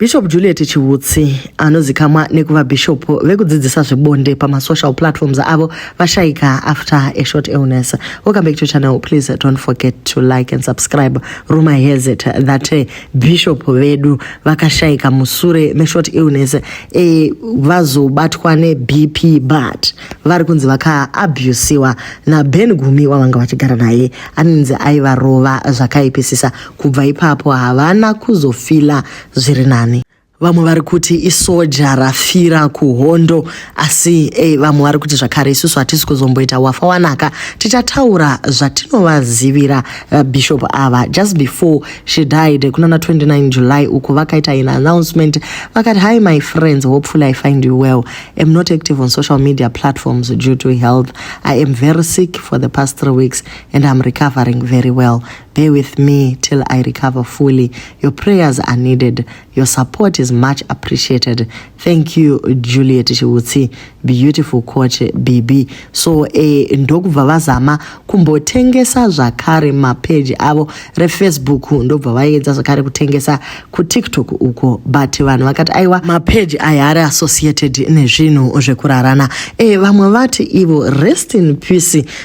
Bishop Juliet Chiutsi anozikamwa nekuva bishop vekudzidzisa zvebonde pamasocial platforms avo vashaika after a short illness. Welcome back to channel. Please don't forget to like and subscribe. Rumor has it that eh, bishop vedu vakashaika musure meshort illness eh, vazobatwa neBP but vari kunzi vakaabusiwa naBen Gumi wavanga vachigara naye anonzi aivarova zvakaipisisa Kubva ipapo havana kuzofila zviri nani. Vamwe vari kuti isoja rafira kuhondo asi eh, vamwe vari kuti zvakare isusu hatisi kuzomboita wafa wanaka tichataura zvatinovazivira uh, bishop ava just before she died kunana 29 july uko vakaita in announcement vakati hi my friends hopefully i find you well am not active on social media platforms due to health i am very sick for the past three weeks and i'm recovering very well Bear with me till I recover fully. Your prayers are needed. Your support is much appreciated. Thank you Juliet Chiutsi, beautiful coach BB. So eh, ndokubva vazama kumbotengesa zvakare mapage avo refacebook ndobva vaiedza zvakare kutengesa kutiktok uko but vanhu vakati aiwa mapage aya ari associated nezvinhu zvekurarana. Eh, vamwe vati ivo rest in peace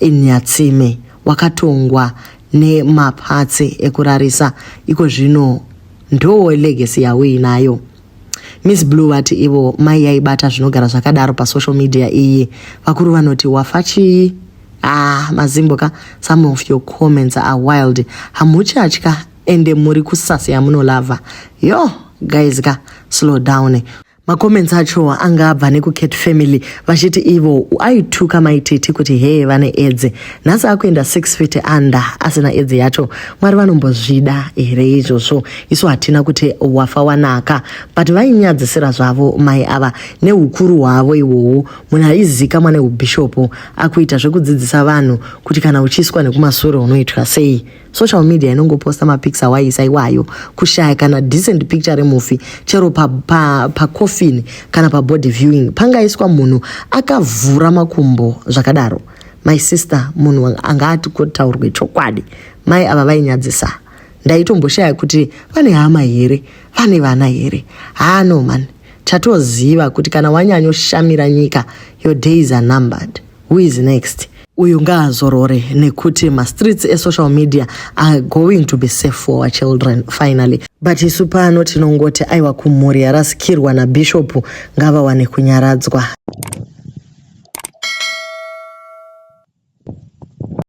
eNyatsime wakatongwa nemapatsi ekurarisa iko zvino ndoo legacy yauinayo miss blue vati ivo mai yaibata zvinogara zvakadaro pasocial media iyi vakuru vanoti wafa chii ah mazimbo ka some of your comments are wild hamuchatya ende muri kusasi yamunolavha yo guys ka slow down macomments acho anga abva nekucat family vachiti ivo aituka maititi kuti hee vane edzi nhasi akuenda six feet under asina edzi yacho mwari vanombozvida here izvozvo isu hatina kuti wafa wanaka but vainyadzisira zvavo mai ava neukuru hwavo iwowo munhu aizika mwane ubhishopu akuita zvekudzidzisa vanhu kuti kana uchiiswa nekumasure unoitwa sei social media inongoposta mapics awaiisa iwayo kushaya kana decent picture remufi chero pacoffin pa, pa kana pabody viewing pangaiswa munhu akavhura makumbo zvakadaro my sister munhu anga ati kotaurwe chokwadi mai ava vainyadzisa ndaitomboshaya kuti vane hama here vane vana here haa no mani chatoziva kuti kana wanyanyoshamira nyika your days are numbered who is next uyu ngaazorore nekuti mastreets esocial media are going to be safe for our children finally but isu pano tinongoti aiwa kumhuri yarasikirwa nabhishopu ngavawane kunyaradzwa